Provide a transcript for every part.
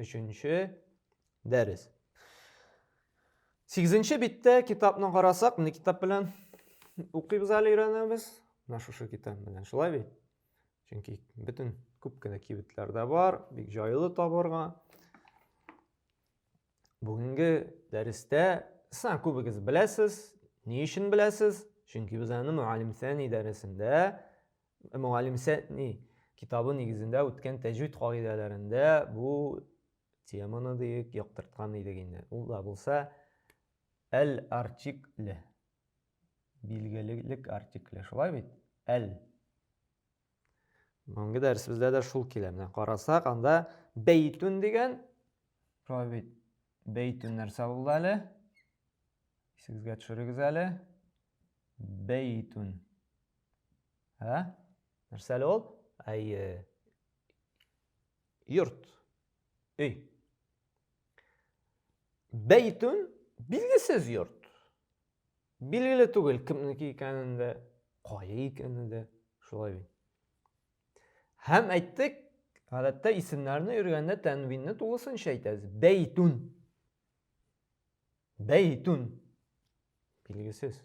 Өченче дәрес. Сигезенче биттә китапны карасак, менә китап белән укыйбыз әле өйрәнәбез. Менә шушы китап белән. Шулай бит? Чөнки бөтен күп кенә кибетләр дә бар, бик җайлы табырга. Бүгенге дәрестә саң күбегез беләсез, ни өчен беләсез? Чөнки без аны мөгаллим сәни дәресендә Мөгаллим Сәтни китабы нигезендә үткән тәҗвид кагыйдәләрендә бу теманы диек яктырткан идек инде. Ул да булса әл артикле билгелелек артикле шулай бит? Әл Бүгенге дәресебездә дә шул килә. Менә карасак, анда бәйтүн дигән шулай бит. Бәйтүн нәрсә булды әле? Исегезгә төшерегез әле. Бәйтүн. Ә? Нәрсә әле ул? Әйе. Йорт. Өй. Бәйтүн билгесез йорт. Билгеле түгел кемнеке икәнен дә, кая икәнен дә, шулай бит. Һәм әйттек, гадәттә исемнәрне өйрәнгәндә тәнвинне тулысынча әйтәбез. Бәйтүн. Бәйтүн. Билгесез.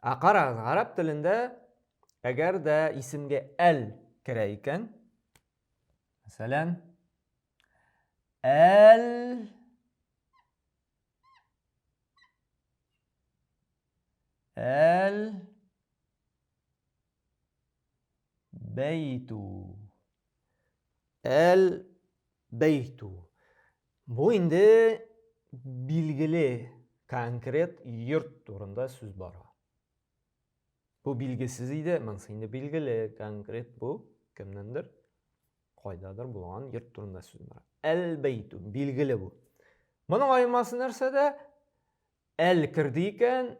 Ә карагыз, гарәп телендә әгәр дә исемгә әл керә икән, мәсәлән, әл әл бәйтү әл Бәйтү. Бу инде билгеле конкрет йорт турында сүз бара. Бу билгесез иде, монысы инде билгеле конкрет бу кемнендер кайдадыр булган йорт турында сүз бара. Әл-бәйтү, билгеле бу. Моның аемасы нәрсәдә? Әл керде икән,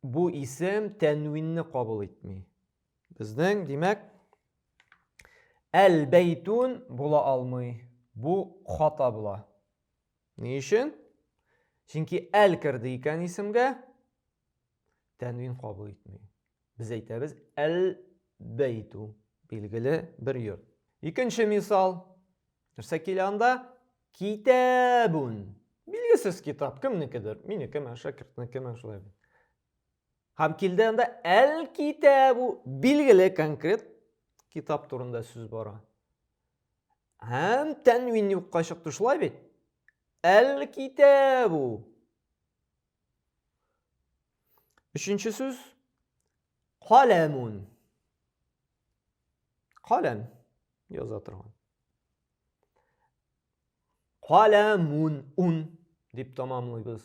Бу исем тәнвинне кабул итми. Безнең, димәк, әл-бәйтун була алмый. Бу хата була. Ни өчен? Чөнки әл керде икән исемгә, тәнвин кабул итми. Без әйтәбез әл-бәйту, билгеле бер йорт. Икенче мисал, Нәрсә килә анда? Китәбүн. Билгесез китап, кемнекедер, минекеме, шәкертнекеме, шулай бит. Һәм килде анда әл китәбу, билгеле конкрет китап турында сүз бара. Һәм тәнвин юкка чыкты, шулай бит? Әл китәбу. Өченче сүз, каләмун. Каләм яза торган. Каләмун ун дип тамамлыйбыз.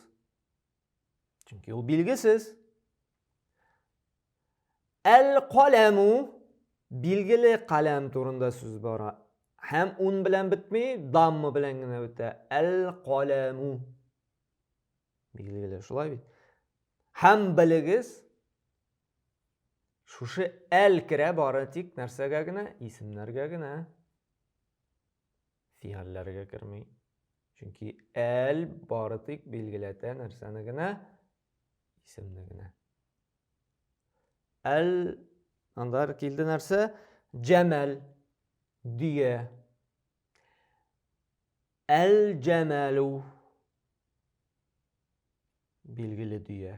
Чөнки ул билгесез. Әл каләму билгеле каләм турында сүз бара. Һәм ун белән бетми, дамма белән генә бетә. Әл каләму. Билгеле шулай бит. Һәм белегез, Шушы әл керә бары тик нәрсәгә генә? Исемнәргә генә. Фигалләргә керми. Чөнки әл бары тик билгеләтә нәрсәне генә? Исемне генә. Әл анда килде нәрсә? Җәмәл дөя. Әл җәмәлу билгеле дөя.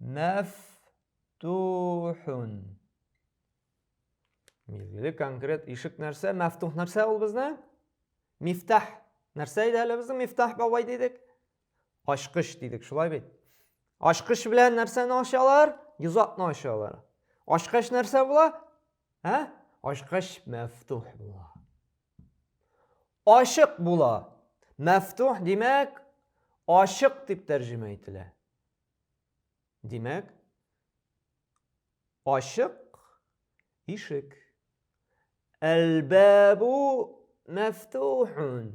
Мәфтухун. Билгеле конкрет ишек нәрсә? Мәфтух нәрсә ул безне? Мифтах. Нәрсә иде әле безнең мифтах бабай дидек? Ачкыч дидек, шулай бит. Ачкыч белән нәрсәне ачалар? Йозакны ачалар. Ачкач нәрсә була? Ә? Ачкач мәфтух була. Ачык була. Мәфтух димәк, ачык дип тәрҗемә ителә. Димәк, ачык ишек. Әлбәбу мәфтухун.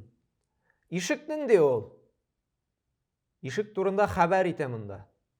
Ишек нинди ул? Ишек турында хәбәр итә монда.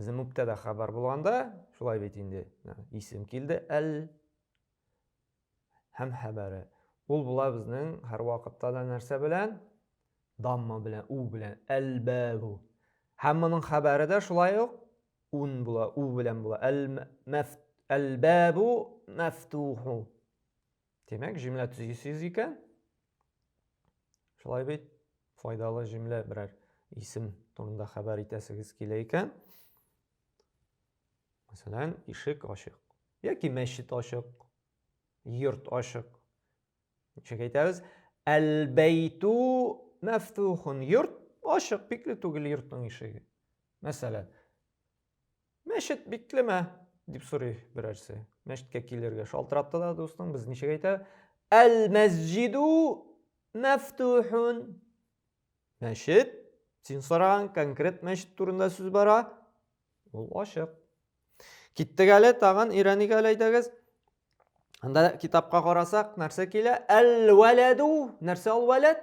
Безнең мөптәдә хәбәр булганда, шулай бит инде, исем килде, әл һәм хәбәре. Ул була безнең һәр вакытта да нәрсә белән? Дамма белән, у белән, әл-бәбу. Һәм моның хәбәре дә шулай ук ун була, у белән була. Әл-бәбу мәфтуху. Демәк, җөмлә төзисез икән, Шулай бит, файдалы җөмлә берәр исем турында хәбәр итәсегез килә икән. Мәсәлән, ишек ачык. Яки мәчет ачык, йорт ачык. Ничек әйтәбез? Әл-бәйту мәфтухун. Йорт ачык, бикле түгел йортның ишеге. Мәсәлән, Мәчет биклеме? дип сорый берәрсе. Мәчеткә килергә шалтыратты да дустың, без ничек әйтә? Әл-мәсҗиду мәфтухун. Мәчет, син сораган конкрет мәчет турында сүз бара, ул ачык. Киттек әле, тагын өйрәник әле әйдәгез. Анда китапка карасак, нәрсә килә? Әл-вәләду. Нәрсә ул вәләд?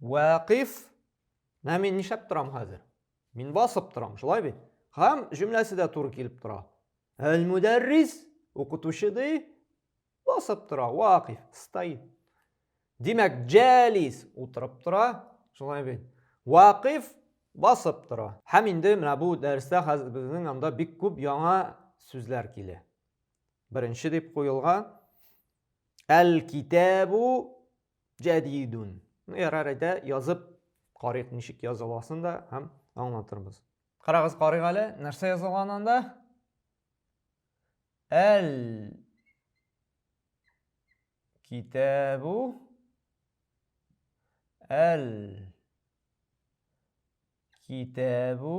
Вәкиф. Менә мин нишләп торам хәзер? Мин басып торам, шулай бит? Һәм җөмләсе дә туры килеп тора. Әл-мударрис, укытучы ди, басып тора, вакиф, стоит. Димәк, җәлис утырып тора, шулай бит? Вакиф басып тора. Һәм инде менә бу дәрестә хәзер безнең анда бик күп яңа сүзләр килә. Беренче дип куелган әл-китабу Җәдидун. Ну, ярар әйдә, язып карыйк, ничек языласын да һәм аңлатырбыз. Карагыз, карыйк әле, нәрсә язылган анда? Әл китабу әл китабу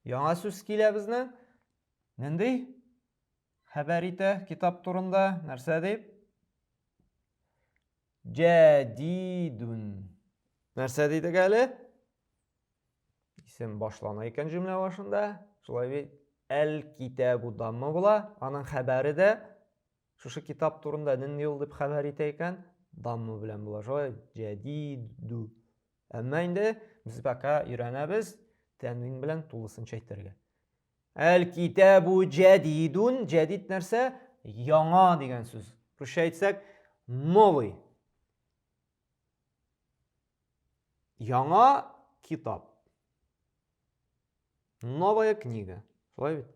яңа сүз килә безнең. Нинди? Хәбәр итә китап турында. Нәрсә дип? Җәдидүн. Нәрсә дидек әле? Исем башлана икән җөмлә башында. Шулай бит. Әл китабу дамма була. Аның хәбәре дә шушы китап турында нинди юл дип хәбәр итә икән, дамма белән була. Шулай җәдидү. Әмма инде без пока өйрәнәбез тәнвин белән тулысынча әйтергә. Әл-китабу җәдидун, җәдид нәрсә? Яңа дигән сүз. Русча әйтсәк, новый. Яңа китап. Новая книга. Шулай бит?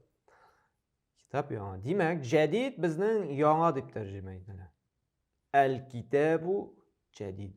Китап яңа. Димәк, җәдид безнең яңа дип тәрҗемә ителә. Әл-китабу җәдид.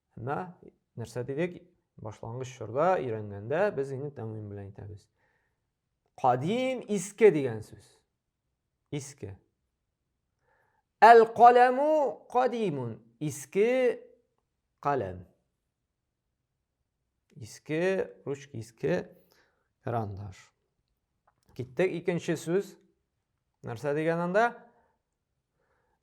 Һәммә нәрсә дидек, башлангыч чорда өйрәнгәндә без инде тәмуин белән әйтәбез. Кадим иске дигән сүз. Иске. Әл-каләму кадимун. Иске каләм. Иске ручка, иске карандаш. Киттек икенче сүз. Нәрсә дигән анда?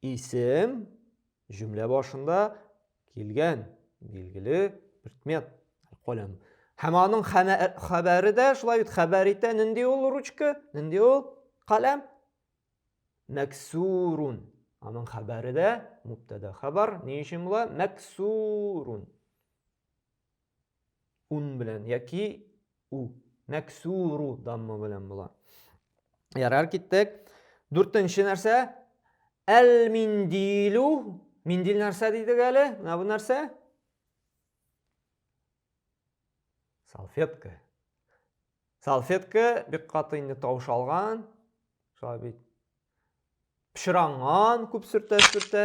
Исем җөмлә башында килгән билгеле предмет каләм. Һәм аның хәбәре дә шулай бит хәбәр итә. Нинди ул ручка? Нинди ул каләм? Мәксурун. Аның хәбәре дә мубтада хәбәр. Ни өчен була? Мәксурун. ун белән яки у нәксуру дамма белән була ярар киттек дүртенче нәрсә әл миндилу миндил нәрсә дидек әле менә бу нәрсә салфетка салфетка бик каты инде тавыш алган шулай бит пычранган күп сөртә сөртә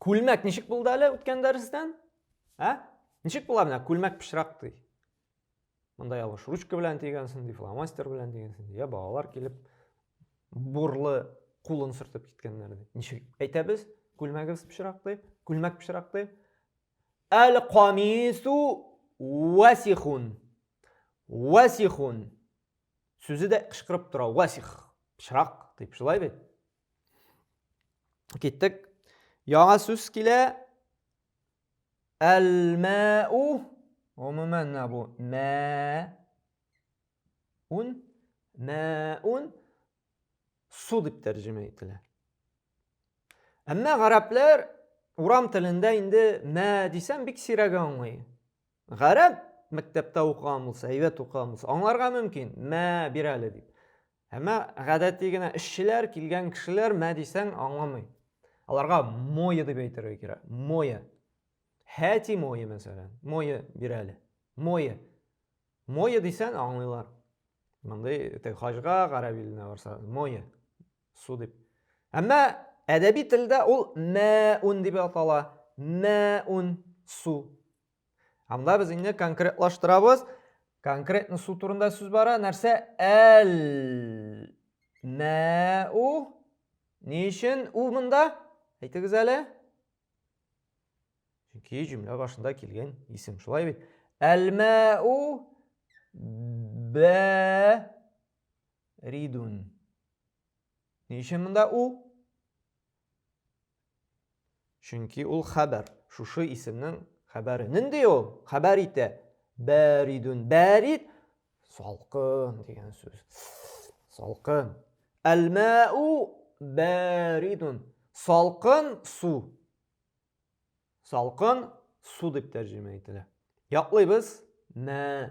Күлмәк ничек булды әле үткән дәрестән? Ә? Ничек була менә күлмәк пычрак ди. Монда ялгыш ручка белән тигәнсең, ди, фломастер белән дигәнсең, ди. Я балалар килеп бурлы кулын сөртеп киткәннәр ди. Ничек әйтәбез? Күлмәгебез пычрак ди, күлмәк пычрак ди. Әл камису васихун. Васихун. Сүзе дә кычкырып тора. Васих. Пычрак дип шулай бит. Киттек. Яңа сүз килә. Әл-мәу. Гомумән бу мә ун мәун су дип тәрҗемә ителә. Әмма гарәпләр урам телендә инде мә дисәм бик сирәге аңлый. Гарәп мәктәптә укыган булса, әйбәт укыган булса, аңларга мөмкин. Мә бир әле дип. Әмма гадәти генә эшчеләр, килгән кешеләр мә дисәң аңламый. Аларга мое дип әйтергә кирәк. Мое. Хәти мое мәсәлән. Мое бир әле. Мое. Мое дисәң аңлыйлар. Мондый тек хаҗга, гарәп иленә барса, мое. Су дип. Әмма әдәби телдә ул мәун дип атала. Мәун су. Анда без инде конкретлаштырабыз. Конкретно су турында сүз бара. Нәрсә? Әл. Мә у. Ни өчен у монда? Әйтегез әле. Чөнки җөмлә башында килгән исем. Шулай бит. Әл мә у бә ридун. Ни өчен монда у? Чөнки ул хәбәр, шушы исемнең хәбәре. Нинди ул? Хәбәр итә. Бәридүн. Бәрид салкын дигән сүз. Салкын. Әлмәу бәридүн. Салкын су. Салкын су дип тәрҗемә ителә. Яклыйбыз. Мә.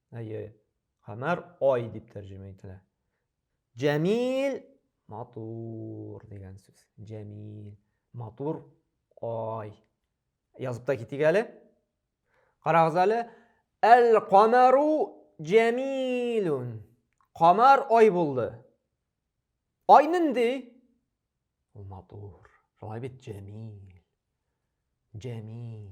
Әйе. Камәр ай дип тәрҗемә ителә. Җәмил матур дигән сүз. Җәмил матур ай. Язып та китик әле. Карагыз әле. Әл камәру җәмилун. Камар ай булды. Ай нинди? Ул матур. Шулай бит җәмил. Җәмил.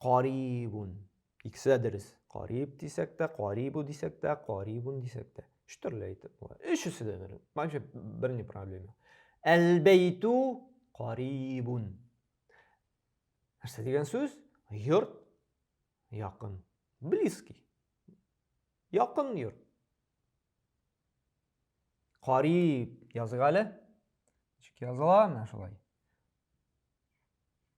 Карибун. Икесе дә дөрес. Кариб дисәк тә, карибу дисәк тә, карибун дисәк тә. Өч төрле әйтеп була. Өчесе дә дөрес. Вообще бер ни проблема. Әлбәйту карибун. Нәрсә дигән сүз? Йорт якын. Близкий. Якын йорт. Кариб язык әле. Ничек языла менә шулай?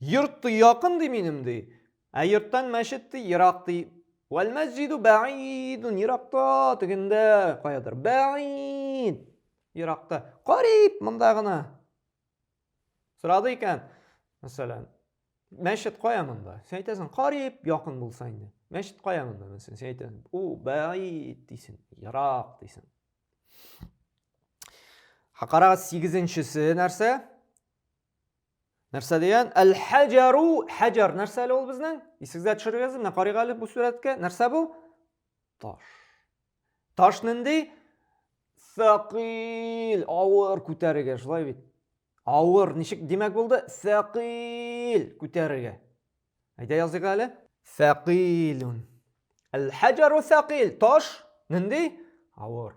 Йортты якын ди минем ди. Ә йорттан мәчет ди, ерак ди. Вәл мәсҗиду бәидун еракта, тегендә, каядыр. Бәид. Еракта. Кариб, монда гына. Сорады икән, мәсәлән, мәчет кая монда? Син әйтәсең, кариб, якын булса инде. Мәчет кая монда? Мәсәлән, син әйтәсең, у, бәид дисең, ерак дисең. Хакарага 8-нчесе нәрсә? Нәрсә дигән? Әл-хаҗару, хаҗар нәрсә әле ул безнең? Исегезгә төшерегез, менә карыйк әле бу сурәткә. Нәрсә бу? Таш. Таш нинди? Сәкыйл, авыр күтәрергә, шулай бит. Авыр, ничек димәк булды? Сәкыйл күтәрергә. Әйдә языйк әле. Сәкыйлун. Әл-хаҗару сәкыйл, таш нинди? Авыр.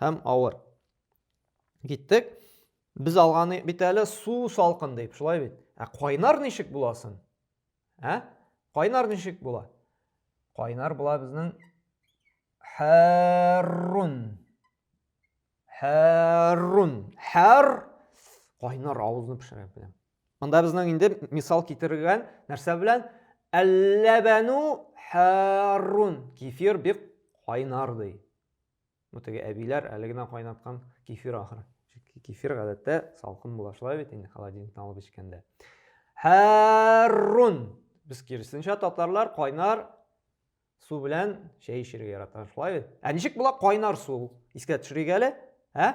һәм авыр. Киттек. Без алганыйк бит әле су салкын дип, шулай бит. Ә кайнар ничек була соң? Ә? Кайнар ничек була? Кайнар була безнең хәррун. Хәррун. Хәр кайнар авызны пешерә беләм. Монда безнең инде мисал китергән нәрсә белән? Әлләбәну хәррун. Кефир бик кайнар ди. Ну теге әбиләр әле генә кайнаткан кефир ахыры. Чөнки кефир гадәттә салкын була шулай бит инде холодильниктан алып эчкәндә. Хәррун. Без киресенчә татарлар кайнар су белән чәй эчәргә ярата шулай бит. Ә ничек була кайнар су? Искә төшерик әле. Ә?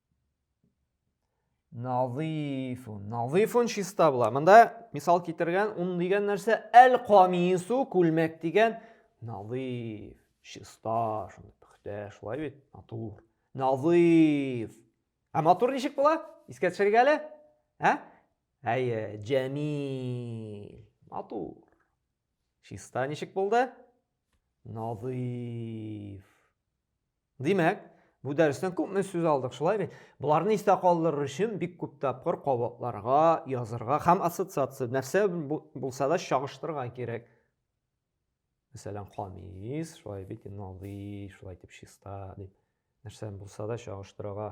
Назифун. Назифун чиста була. Монда мисал китергән ун дигән нәрсә әл камису күлмәк дигән назиф, чиста, шундый пөхтә, шулай бит, матур. Назиф. Ә матур ничек була? Искә төшерик әле. Ә? Әйе, җәмил. Матур. Чиста ничек булды? Назиф. Димәк, бу дәрестән күпме сүз алдык, шулай бит? Боларны истә калдырыр өчен бик күп тапкыр кабатларга, язырга һәм ассоциация нәрсә булса да чагыштырырга кирәк. Мәсәлән, камис, шулай бит, надый, шулай дип чиста дип. Нәрсә булса да чагыштырырга